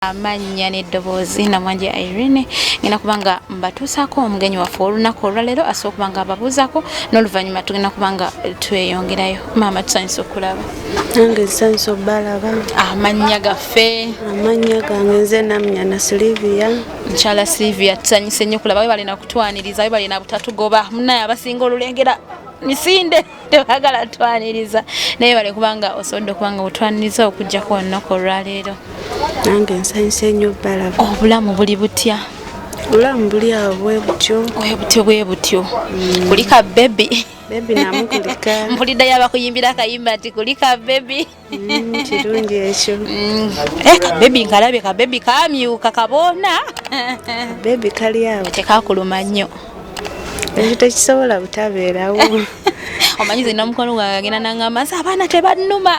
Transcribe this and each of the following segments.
amannya n'eddoboozi namwanje irene ngenda kuba nga mbatuusaako omugenyi waffe olunaku olwaleero asobola okuba nga ababuuzako n'oluvannyuma tugenda kuba nga tweyongerayo maama tusanyusa okulaba nange nsanyusa obalaba amannya gaffe amannya gange nze namnya na silivia mukyala silivia tusanyuse nnyo kulaba we balina kutwaniriza we balina butatugoba munaye abasinga olulengera misinde tebagala twaniriza naye bale kubanga osobodde okubanga otwaniriza okujjako olunaku olwaleero nange nsanyusa enyo balaba obulamu buli butya obulamu buli awo bwebutyo bwebutyo bwebutyo mm. kulika bebi bebi namukulika mpulidde yabakuyimbira akayimba nti kulika bebi Mm, kirungi ekyo mm. eh, kabebi nkalabye kabebi kamyuka kaboona bebi kali awo tekakuluma nnyo ekyo tekisobola butabeerawo omanyi zina omukono gwange agenda nangamba nsi abaana tebannuma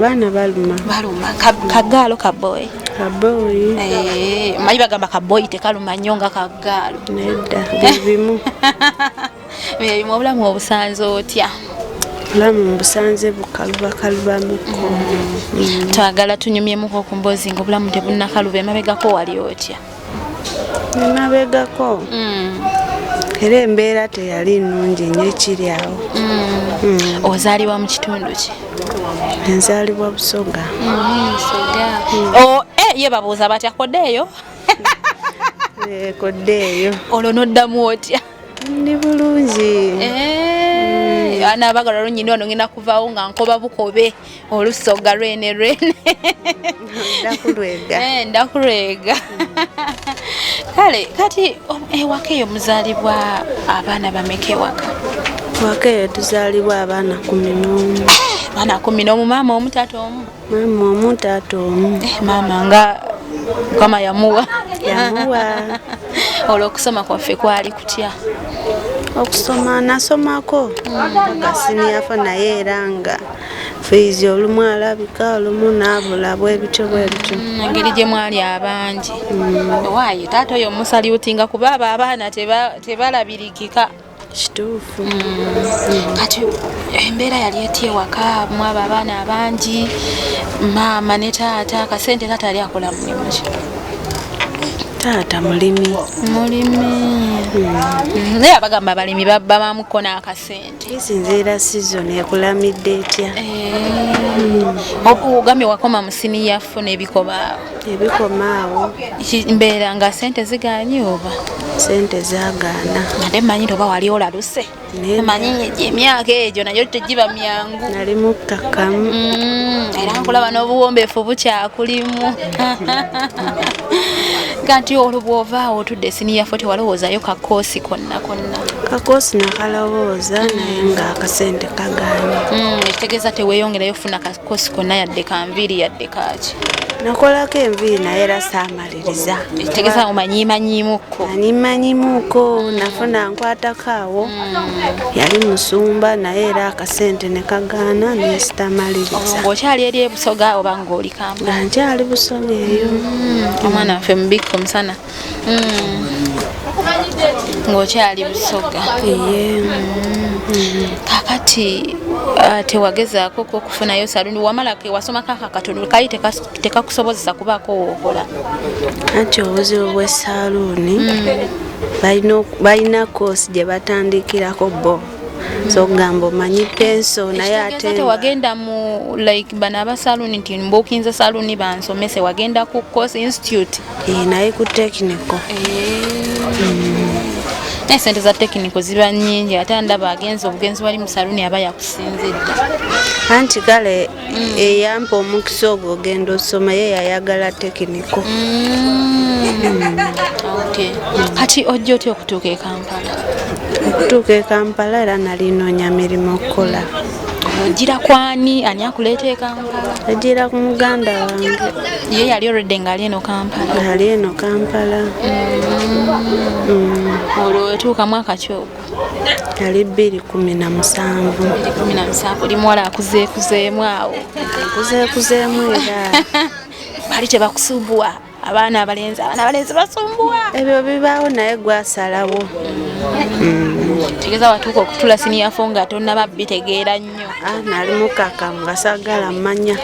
baana baluma baluma kagaalo kaboyi kaboyi eh, omanyi bagamba kaboyi tekaluma nnyo nga kagaalo nedda bibimu Mirimu obulamu obusanze otya? Obulamu mbusanze bukalubakalubamukko. Mm. Twagala tunyumyemuko ku mboozi nga obulamu tebunnakaluba emabegako wali otya? Emabegako? Mm. Era embeera teyali nnungi nnyo ekiri awo. Mm. Ozaalibwa mu kitundu ki? Enzaalibwa Busoga. Busoga. Oh, eh, ye babuuza batya kodeeyo? Eh, kodeeyo. Olwo n'oddamu otya? ndi bulungi eh, mm. ana abagala olwo nyina ono ngenda kuvaawo nga nkoba bukobe olusoga lwene lwene ndakulwega eh, ndakulwega kale kati ewaka eyo muzaalibwa abaana bameka ewaka ewaka eyo tuzaalibwa abaana kumi nomu abaana kumi nomu maama omu taata omu Maama omu taata omu. Eh, maama nga mukama yamuwa yamuwa olwo okusoma kwaffe kwali kutya okusoma nasomako kasiniyafa naye era nga fiizi olumu alabika olumu naabula bwebityo bwebityo mm, engeri gye mwali abangi mm. waaye taata oyo omusaliutinga kuba abo abaana tebalabirikika teba kituufu mm. kati embeera yali etya ewaka mwaba abaana abangi maama ne taata akasente taata yali akola mulimu ki taata mulimi mulimi mm. naye abagamba abalimi babamuko n'akasente esinziira sizoni ekulamidde etya eh. ogambye wakoma musini yafuna ebikobaawo ebikoma awo mbeera nga sente zigaanye oba sente zagaana ate manyire oba wali olaluse manyi emyaka egyo nayo tegiba myangu nali mukkakkamu mm, era nkulaba n'obuwombeefu bukyakulimu kati olwo bw'ova awo otudde siniya fo tewalowoozayo kakoosi konna konna kakoosi nakalowooza naye nga akasente kagaanye mm, ekitegeeza teweeyongerayo kufuna kosi kona yadde kanviiri yadde kaaki nakolako enviiri naye era saamaliriza tegeza omanyimanyimuko anyimanyimuko mm. nafuna nkwatako awo mm. yali musumba naye era akasente ne kagaana nesitamaliriza okyali eri ebusoga oba ngaoli kamba nkyali busoga eyo mm. omwana waffe mubikka omusana ng'okyali busoga kakati ah, tewagezaako ko okufunayo saluni wamalako ewasomako aka katono kali tekakusobozesa kubaako wookola anti obuzibu bw'esaluuni hmm. balina koosi gye batandikirako bo zogamba omanyi penso naye ate tewagenda mu like bana abasaluni nti mbukinze saluni bansomese wagenda ku course institute Eh, naye ku tekiniko naye sente za tekiniko ziba nyingi ate ndaba agenzi obugenzi wali musaluni aba yakusinzidda anti kale mm. eyampa omukisa ogwo ogenda osoma ye yayagala tekiniko mm. kati ojja otya okutuuka ekampala okutuuka ekampala era nalinonya mirimu okukola ogira kwani ani akuleeta ekampala Yajira ku muganda wange. Ye yali already ngali eno Kampala. Ngali eno Kampala. Mm. Olwo wetuuka mwaka ki ogwo? Yali bbiri kumi na musanvu. Bbiri kumi na musanvu. Oli muwala akuzeekuzeemu awo. Akuzeekuzeemu era. Bali tebakusubuwa. abaana abalenzi abaana abalenzi basumbuwa ebyo bibaawo naye gwasalawo tegeza watuuka okutula siniyafo nga tonaba bitegeera nnyo ah, nali mukakamu gasagala mmanya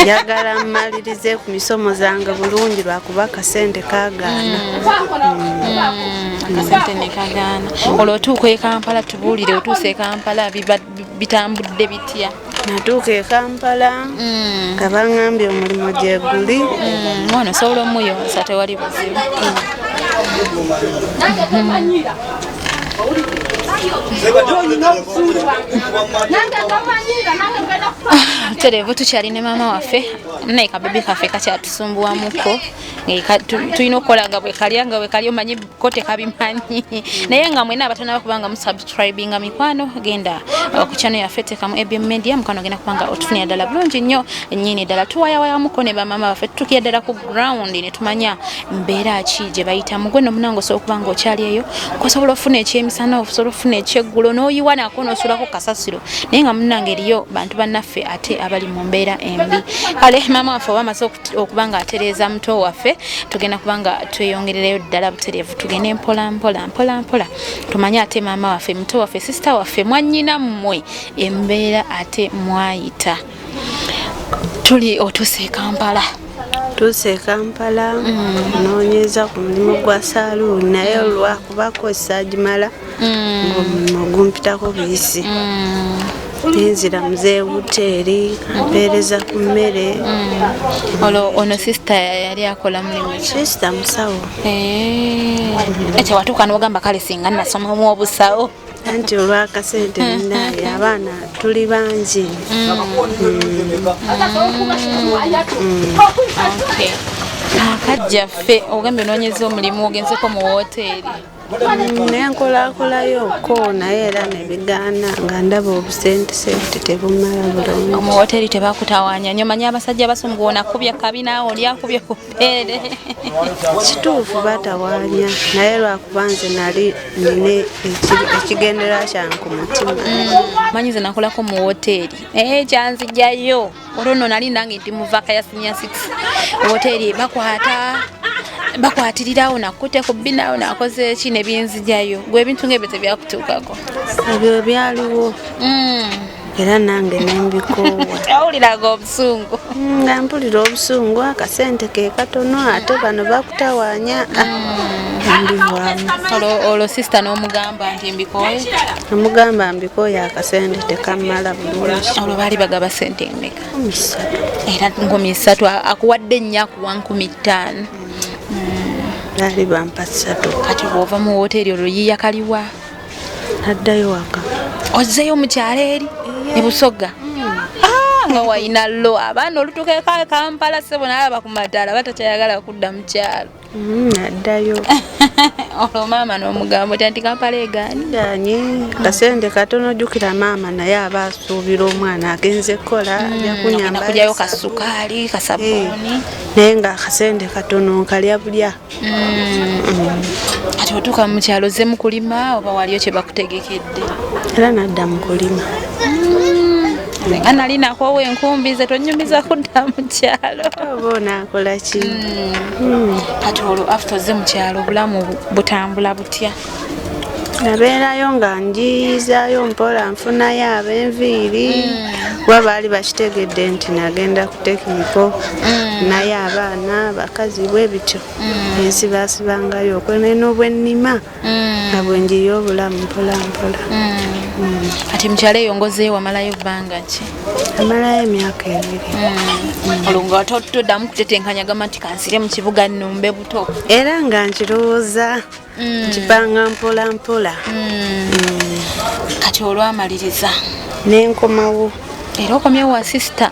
njagala mmalirize ku misomo zange bulungi lwakuba akasente kagaana akasente nekagaana olwo otuuka ekampala tubuulire otuusa ekampala bibadde bitambudde bitya natuuka e kampala mm. nga baŋambye omulimu gyeguli mm, mwana osobola omuyonsa tewali buzibu terevu tukyali ne maama waffe naye kabebi kaffe kakyatusumbuwamuko tulina okukola nga bwekalya nga bwekali omanyi ko tekabimanyi naye nga mwena abatanaba kubanga musubscribinga mikwano genda uh, ku channel yaffe tekamu abm media mukwano genda kubanga otufunira ddala bulungi nnyo nyini ddala tuwayawayamuko ne bamama baffe tutukira ddala ku ground ne tumanya mbeera ki gye bayitamu gwe nomunange osobola okuba nga okyali eyo kosobola okufuna ekyemisana osobola okufuna ekyeggulo n'oyiwa nako nosulako kasasiro naye nga munange eriyo bantu bannaffe ate abali mu mbeera embi kale maama waffe oba amaze okuba nga atereeza muto waffe tugenda kuba nga tweyongerereyo ddala butereevu tugende mpola mpola mpola mpola tumanye ate maama waffe muto waffe sisita waffe mwanyina mmwe embeera ate mwayita tuli otuuse e kampala tuuse e kampala mm. noonyeza ku mulimu gwa saluuni naye olwakubakozesa agimala mm. ogumpitako buyisi nenzira muzee wuteeri mpeereza ku mmere mm. olwo ono sisita yali akola mulimu sisita musawo eh. ekyo watuuka nogamba kale singa nasomamu obusawo anti olwakasente munaye abaana tuli bangi akajjaffe ogambye onoonyeza omulimu ogenzeko mu wooteeri nenkolakolayo ko naye era nebigaana nga ndaba obusentesente tebumala bulungi omu woteri tebakutawanya nyo manyi abasajja basumgu ona kubye kabi naawe oli akubye ku bbeere kituufu batawanya naye lwakuba nze nali nine ekigendera kyange ku mutima mm. manyi ze nakolako mu woteri naye eh, kyanzijayo olwo nno nali nange nti muvaka ya sinia six woteri bakwata bakwatirirawo nakute ku binawo nakoze ki nebinzijayo gwe ebintu ngaebyo tebyakutuukako ebyo byaliwo mm. era nange nembikowawuliraga obusungu mm, nga mpulira obusungu akasente ke katono ate bano bakutawanya mm. olwo sisita n'omugamba nti mbikoye Namugamba mbikooye akasente tekammala bulungi. Olwo baali bagaba sente mmeka? Era nkumi ssatu akuwadde nnyo akuwa nkumi ttaano. Hmm. Baali bampa ssatu. Kati bw'ova mu wooteeri olwo yiiya kaliwa? Naddayo waka. Ozzeeyo mu kyalo eri e Busoga? Hmm. Ah, nga wayina lo abaana olutuuka eka Kampala ssebo nalaba ku madaala batakyayagala kudda mu kyalo. Mm, addayo olwo maama n'omugambo tyanti kampala egaani ganye kasente katono ojjukira maama naye aba asuubira omwana agenze kukola mm, ajakunyambakujayo kasukaali kasabuuni eh, naye nga kasente katono nkalya bulya mm. kati otuuka mu kyalo ze mu kulima oba waliyo kye bakutegekedde era nadda mu kulima nga nali nakoowa enkumbi ze tonyumiza kudda mu kyalo oba onaakola ki hmm. kati olwo after ozze mu kyalo obulamu butambula butya nabeerayo nga njiyizayo mpola nfunayo abenviiri hmm. kuba baali bakitegedde nti nagenda ku tekiniko hmm. naye abaana bakazi bwe bityo ensibasibangayo okwenena obwennima mm. nga bwenjiyo obulamu mpolampola mm. kati mukyalo eyo ngozeyo wamalayo bbanga ki amalayo emyaka ebiri olunga wate otuddamu kutetenkanya gamba nti kansire mu kibuga numbe buto era nga nkirowooza nkipanga mpolampola kati olwamaliriza nenkomawo era okomyewo wa sisita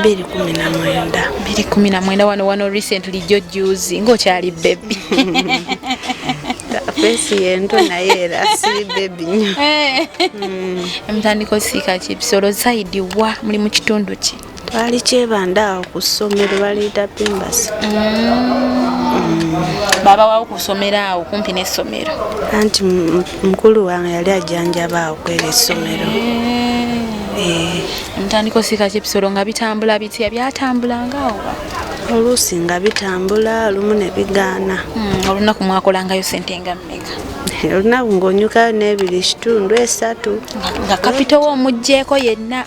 bbiri kumi na mwenda bbiri kumi na mwenda wano wano recently jo juzi ngaokyali bebi fesi yento naye era si bebi nyo eh. mm. emutandika osiika ki bisolo zaidi wa muli mu kitundu ki twali kyebanda awo ku ssomero baliyita pimbasi mm. mm. baba wawo ku ssomero awo kumpi n'essomero anti mukulu wange yali ajjanjaba awo kwera essomero ntandika osiika kyebisolo nga bitambula bitya byatambulanga awo oluusi nga bitambula olumu ne bigaana hmm, olunaku mwakolangayo sente nga mmeka olunaku ng'onyukayo n'ebiri kitundu esatu nga kapitowo omuggyeko yenna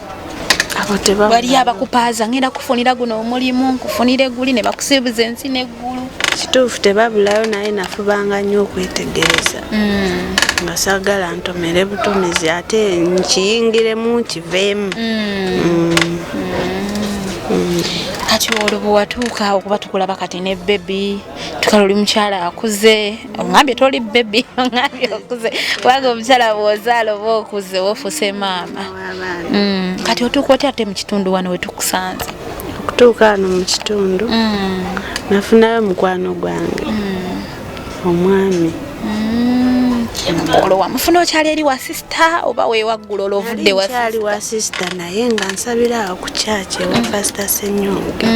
waliyo abakupaaza ngenda kufunira guno omulimu nkufunire guli ne bakusibuza ensi neggulu kituufu tebabulayo naye nafubanga nnyo okwetegereza mm. nga sagala ntomere butomizi ate nkiyingiremu nkiveemu mm. Mm. kati olwo bwewatuuka okuba tukulaba kati ne bebi tukala oli mukyala akuze ongambye toli bebi ongambye okuze kubanga omukyala bwozaala oba okuze wofuuse maama mm. kati otuuka otya ate mu kitundu wano wetukusanze okutuuka wano mu kitundu mm. nafunayo mukwano gwange mm. omwami olwo wamufuna okyali eri wa sisita oba wewaggula olwovuddali wa sisita naye nga nsabira awo ku kyaki ewa pasita senyonga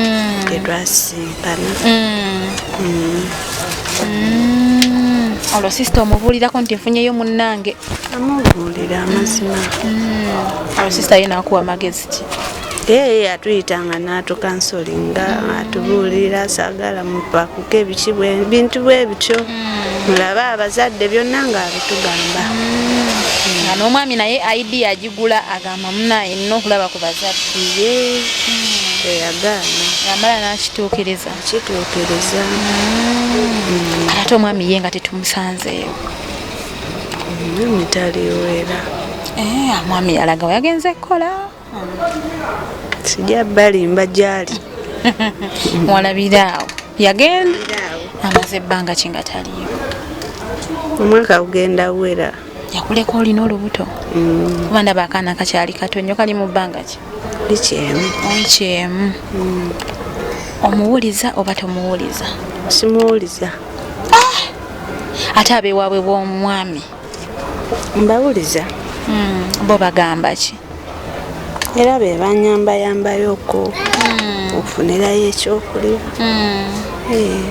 etwasii bano mm. Mm. Mm. olwo sisita omubuulirako nti nfunyeyo munnange amubuulira amazima olwo sisita ye naakuwa magezi ki eye atuyita nga natukansolinga atubuulira sagala mupakuka ebiki bintu bwe bityo mulabe abazadde byonna nga abitugamba nga n'omwami naye aidi agigula agamba Mamuna yenna okulaba ku bazadde ye eyagaana yamala n'akituukiriza kituukiriza mm. ate omwami ye nga tetumusanzeeyo omwami taliwera eh, omwami yalaga wayagenze kukola sija balimba gyali walabira awo yagenda amaze ebbanga kinga taliyo omwaka gugenda wera yakuleka olina olubuto mm. kuba ndaba akaana kakyali kato nnyo kali mu bbanga ki likyemu likyemu mm. omuwuliza oba tomuwuliza simuwuliza ah! ate abewaabwe bw'omwami mbawuliza mm. bo bagamba ki era be banyambayambayoko ofunirayo ekyokulya eh.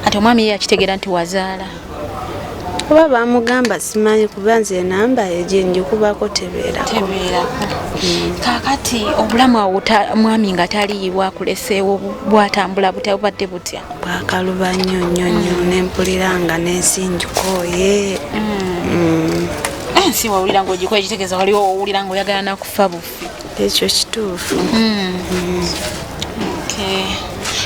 ati omwami ye yakitegera nti wazaala kuba bamugamba simanyi kuba nze enamba ejenjikubako tebeerako hmm. kakati obulamu awo mwami nga taliiwo akuleseewo bwatambula butya bubadde butya bwakaluba nnyo nnyo nnyo hmm. nempulira nga nensi njikooye hmm. eh, ensi wawulira ngaogikoye kitegeeza waliwo owulira ngaoyagala nakufa bufu ekyo kituufu hmm. Hmm.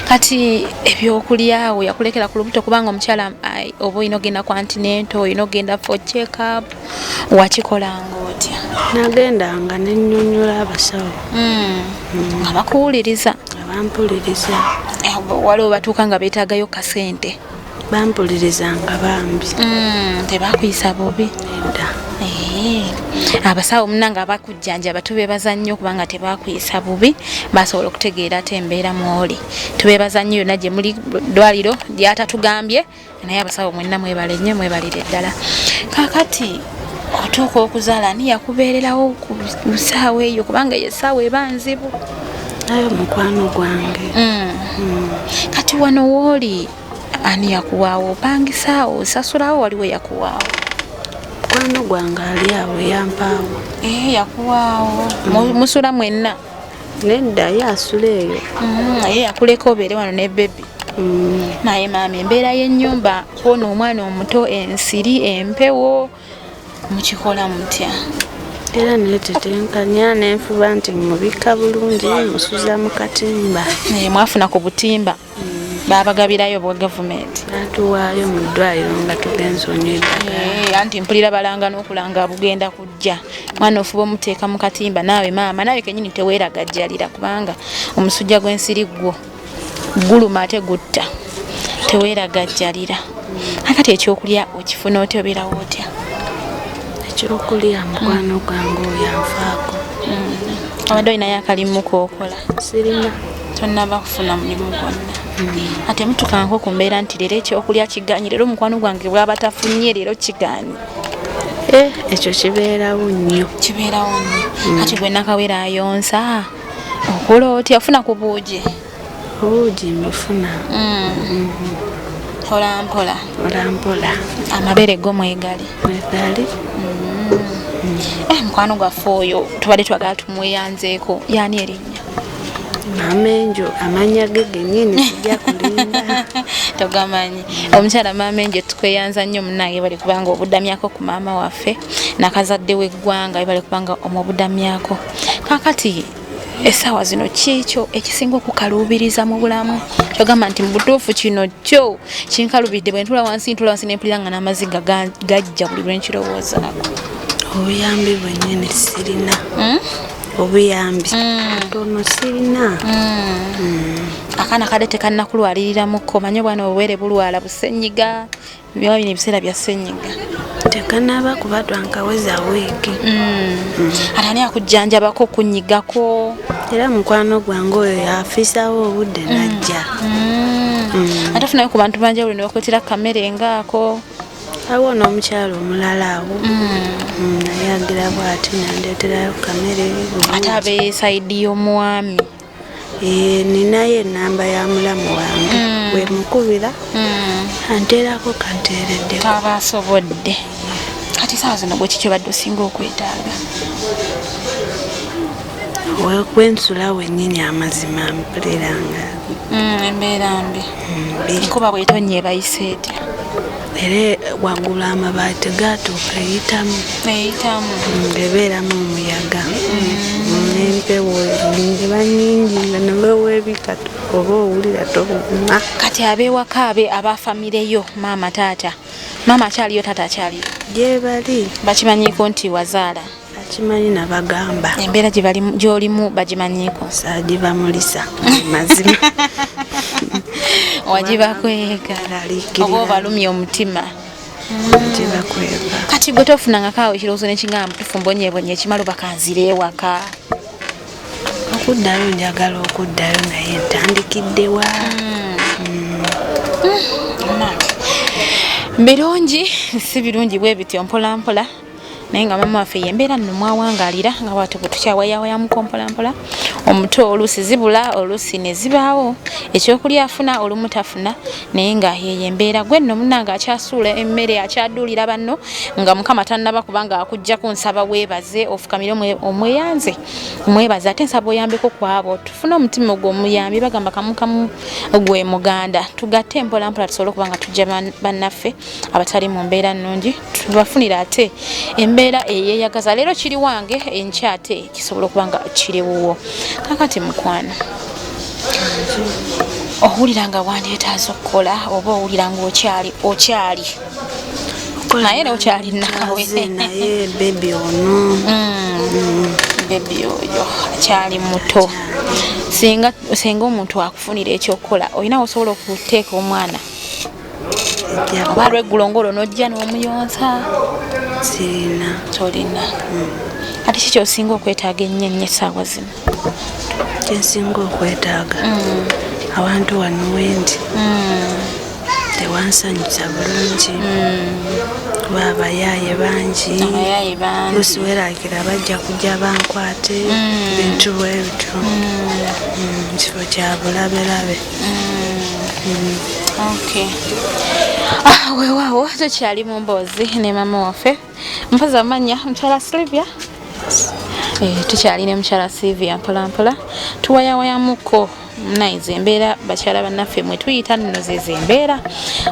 kati ebyokulyawo yakulekera ku lubuto kubanga omukyala oba olina ogenda kwantinento olina ogenda for checkup wakikolanga otya nagendanga nenyonyola abasawo hmm. nga bakuwuliriza abampuliriza eh, waliwo batuuka nga betagayo kasente bampulirizanga bambi mm, tebakuyisa bubi da eh, abasawo munange abakujjanjaba tubebaza nnyo kubanga tebakuyisa bubi basobola okutegeera ate embeera mwoli tubebaza nnyo yonna gye muli ddwaliro lyatatugambye naye abasawo mwenna mwebale nnyo mwebalire ddala kakati otuuka okuzaala ani yakubeererawo ku saawa eyo kubanga eyo esaawa eba nzibu ayo mukwano gwange mm. Mm. kati wano wooli ani yakuwaawo opangisaawo osasulawo waliwo yakuwaawo mukwano gwange ali awo yampaawo eh, yakuwaawo mm. musula mwenna nedda ye asula eyo mm, ye yakuleka obeere wano ne bebi mm. naye maama embeera y'ennyumba kwona omwana omuto ensiri empewo mukikola mutya era netetenkanya nenfuba nti mubikka bulungi musuza mu katimba naye mwafuna ku butimba hmm. babagabirayo bwa gavumenti batuwaayo mu ddwaliro nga tugenza onyweddagala anti mpulira balanga n'okulanga bugenda kujja mwana ofuba omuteeka mu katimba naawe maama naawe kenyini teweeragajjalira kubanga omusujja gw'ensiri ggwo guluma ate gutta teweeragajjalira akati ekyokulya okifuna otya obeerawo otya ekyokulya mukwano gwange oyo anfaako mm. abadde olinayo akalimu kookola sirina tonnaba kufuna mulimu gwonna mm. ate mutukanko ku mbeera nti leero ekyokulya kiganye leero omukwano gwange bwaba tafunye leero kiganye eh, ekyo kibeerawo nnyo kibeerawo nnyo mm. ati gwe nakawera ayonsa okula otya ofuna ku buugi obuugi mbufuna mm. mpolampola mpolampola amabeere go mwegali mwegali mm. eh, mukwano gwaffe oyo tubadde twagala tumweyanzeeko yaani erinnya mamenjo amanya ge genyini sijja kulimba togamanyi omukyala mamenjo tukweyanza nnyo munange bali kubanga obudamyako ku maama waffe nakazadde w'eggwanga bali kubanga omubudamyako kakati esaawa zino kiikyo ekisinga okukaluubiriza mu bulamu kyogamba nti mu butuufu kino kyo kinkalubidde bwe ntula wansi ntula wansi nempulira nga n'amaziga gajja buli lwe nkirowoozaako obuyambi bwennyini sirina hmm? obuyambi hmm. tono sirina hmm. akaana kade tekannakulwalirira mukko manye obwana obwere bulwala busenyiga Byaba bino ebiseera bya ssenyiga tekanaba kuba twankaweza wiiki mm. ate ani akujjanjabako okunyigako era mukwano gwange oyo yafiisawo obudde mm. najja mm. ate ofunayo ku bantu banjawulo ne bakwetera kamere ngaako awo n'omukyalo omulala awo naye agira bwati nandeeterayo kamere ate abesaidi y'omwami Eh, ninayo enamba ya mulamu wange mm. wemukubira mm. anteerako kanteeredde aba asobodde kati saawa zino gweki kyobadde osinga okwetaaga kwensula wenyini amazima mpuliranga mm, embeera mbi nkuba bwetonye ebayise etya era waggulu amabaati gaatuuka eyitamu eyitamu ebeeramu omuyaga n'empewo ziba nyingi nga neweweebikatu oba owulira tobuguma kati abeewaka abe abafamireyo maama taata maama akyaliyo taata akyaliyo gyebali bakimanyiiko nti wazaala akimanyi nabagamba embeera gyolimu bagimanyiiko sagibamulisa mazima wagibakwekalaoba obalumya omutima kati gwe tofunangako awo ekirowoozo nekigamba mutufu mbonyebonye ekimala obakanzira ewaka okuddayo njagala okuddayo naye ntandikiddewa hmm. Hmm. birungi si birungi bwe bityo mpolampola naye nga mama waffe yembeera nno mwawangalira nga bwatyo bwe tukyawayawayamu kompolampola omuto oluusi zibula oluusi ne zibaawo ekyokulya afuna olumu tafuna naye nga yeyo embeera gwe nno munange akyasuula emmere akyaduulira banno nga mukama tannaba kubanga akugjaku nsaba weebaze ofukamire omweyanze omwebaze ate nsaba oyambeko kwabo tufune omutima ogwo omuyambi bagamba kamukamu gwe muganda tugatte mpolampola tusobole okuba nga tujja bannaffe abatali mu mbeera nnungi tubafunira ate embeera eyeyagaza leero kiri wange enkya ate kisobola okuba nga kiri wuwo kakati mukwano owulira nga wandyetaaza okukola oba owulira nga okyali okyali naye era okyali naawe naye bebi ono mm. mm. bebi oyo akyali muto singa omuntu akufunira ekyokukola olina osobola okuteeka omwana oba lweggulo ngolo nojja n'omuyonsa sirina tolina hmm. ate ki kyosinga okwetaaga ennyo ennyo essaawa zino kyensinga okwetaaga hmm. awantu wano wendi hmm. tewansanyusa bulungi kuba abayaaye bangi lusi werakira bajja kujja bankwate bintu bwebityo kifo kyabulabelabe Okay. Ah, weewaawo tukyali mu mboozi ne maama waffe mpaza amanya mukyala Sylvia eh, tukyali ne mukyala Sylvia mpolampola tuwayawayamuko naize embeera bakyala bannaffe mwe tuyita nno zezo embeera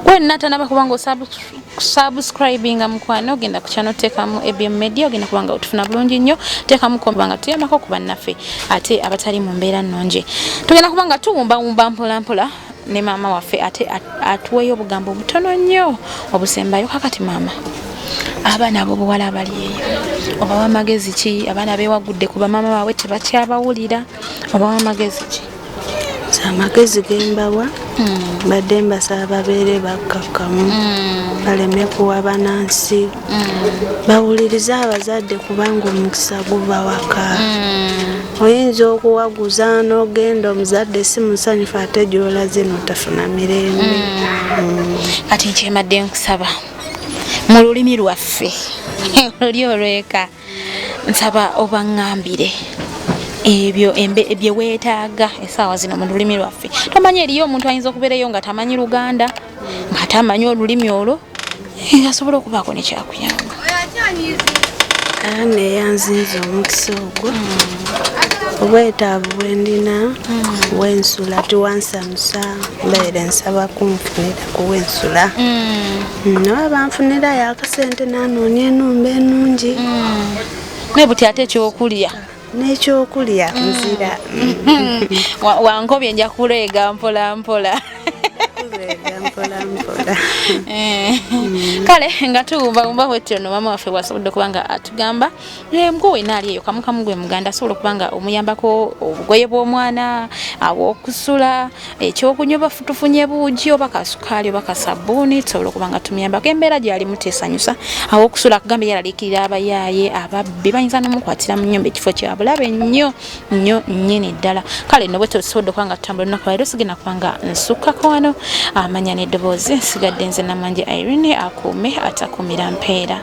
gwe natanaba kubanga osubscribe subscribinga mukwano ogenda kukyano tekamu ebm media ogenda kuba nga otufuna bulungi nnyo tekamu komba nga tuyambako ku bannaffe ate abatali mu mbeera nnungi tugenda kuba nga tuwumbawumba mpolampola ne maama waffe ate atuweeyo obugambo obutono nnyo obusembayo kakati maama abaana abobuwala abali eyo obawa amagezi ki abaana bewagudde ku bamaama baabwe tebakyabawulira obawa amagezi ki amagezi gembawa hmm. mbadde mbasaba babeere bakkakkamu hmm. baleme kuwa banansi hmm. bawulirize abazadde kubanga omukisa guva waka oyinza okuwaguza nogenda omuzadde si musanyufu ate gyola zino tafuna mirembe kati nkyemadde nkusaba mu lulimi lwaffe oli olweka nsaba obaŋambire ebyo bye weetaaga essaawa zino mu lulimi lwaffe tomanyi eriyo omuntu ayinza okubeereyo nga tamanyi luganda nga tamanyi olulimi olwo eh, asobola okubaako nekyakuyamba ana eyanzinza omukisa ogwo hmm. obwetaavu bwendina hmm. wensula tiwansamusa mbeere nsaba kunfunira kuwensula hmm. nawe banfunirayo akasente nanoonya enumba enungi mm. naye buti ate ekyokulya n'ekyokulya mm. nzira wankobye nja kuleega mpola mpola eh. kale nga tuwumbawumba wetyo no maama waffe bwasobodde okuba nga atugamba Eh, mbwa wena ali eyo kamukamu gwe muganda asobola okuba nga omuyambako obugoye bw'omwana awokusula ekyokunywa oba tufunye buugi oba kasukaali oba kasabbuuni tusobola okuba nga tumuyambako embeera gyalimu tesanyusa awokusula kugamba yalalikirira abayaaye ababbi bayinza nomukwatira mu nyumba ekifo kyabulabe nnyo nnyo nnyini ddala kale nobwe tusobodde okuba nga tutambula olunaku lwaleero sigenda kuba nga nsukkako wano amanya n'eddoboozi nsigadde nze namanje irene akuume atakuumira mpeera